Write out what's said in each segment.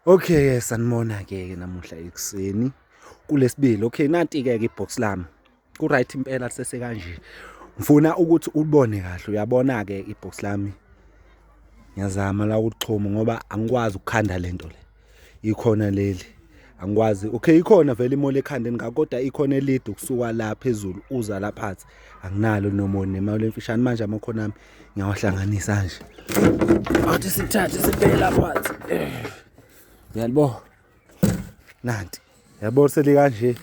Okay, sanibona ke ke namuhla ekuseni kulesibili. Okay, nanti ke ke ibox lami. Ku right impela sese kanje. Ngifuna ukuthi ulibone kahle. Uyabona ke ibox lami. Ngiyazama la ukuxhuma ngoba angikwazi ukukhanda lento le. Ikhona leli. Angikwazi. Okay, ikhona vele imole ekhandeni ngakho kodwa ikhona elide ukusuka la phezulu uza la phansi. Anginalo nomone imali emfishane manje amakhona ami. ngiyawahlanganisa nje athi sithathe sibheke lapha uyalibo nanti yabo seli kanje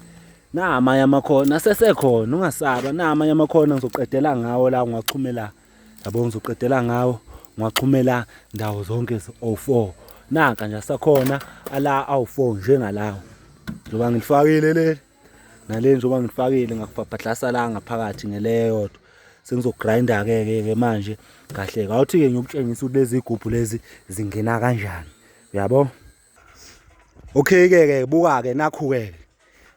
na amanye amakhona asesekhona ungasaba na amanye amakhona ngizoqedela ngawo la ngiwaxhumela yabo ngizoqedela ngawo ngiwaxhumela ndawo zonke zi-04 nanka nje asakhona ala awu-4 njengalawo njengoba ngilifakile leli nale njengoba ngifakile ngakubhabhadlasa la ngaphakathi ngeleyodwa sengizogrinda ke ke ke manje kahle kawuthi ke ngiyokutshengisa ukuthi lezi gubhu lezi zingena kanjani uyabo okay ke ke buka ke nakhu ke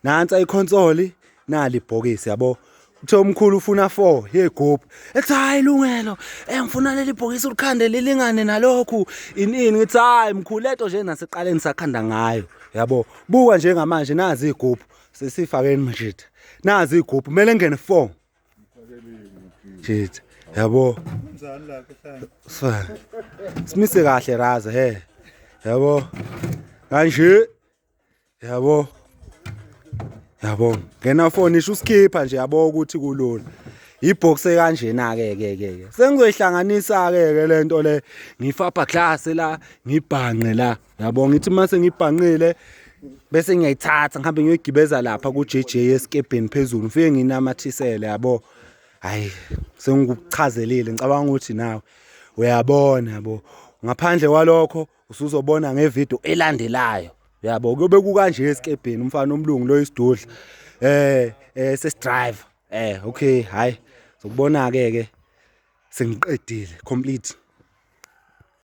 nansi iconsole nali ibhokisi yabo kuthiwa umkhulu ufuna four yegopi ethi hayi lungelo engifuna eh, leli bhokisi ulikhande lilingane nalokhu ini ini ngithi hayi mkhulu leto nje naseqaleni sakhanda ngayo yabo buka njengamanje nazi igubhu sesifakeni mjitha nazi igubhu kumele ngene four jitha yabo simise kahle raza he yabo kanje yabo yabo ngena foni isho usikhipha nje yabo ukuthi kulula ibox ekanjena ke ke ke sengizoyihlanganisa ke ke lento le ngifapha glass la ngibhanqe la yabo ngithi mase ngibhanqile bese ngiyayithatha ngihambe ngiyoyigibeza lapha ku JJ eskebheni phezulu ngifike nginamathisele yabo hayi sengikuchazelile ngicabanga ukuthi nawe uyabona yabo ngaphandle kwalokho usuzobona ngevideo elandelayo yabo kuyobe kukanje esikebheni umfana omlungu lo isidudla eh eh sesidriver eh okay hayi sokubona ke ke sengiqedile complete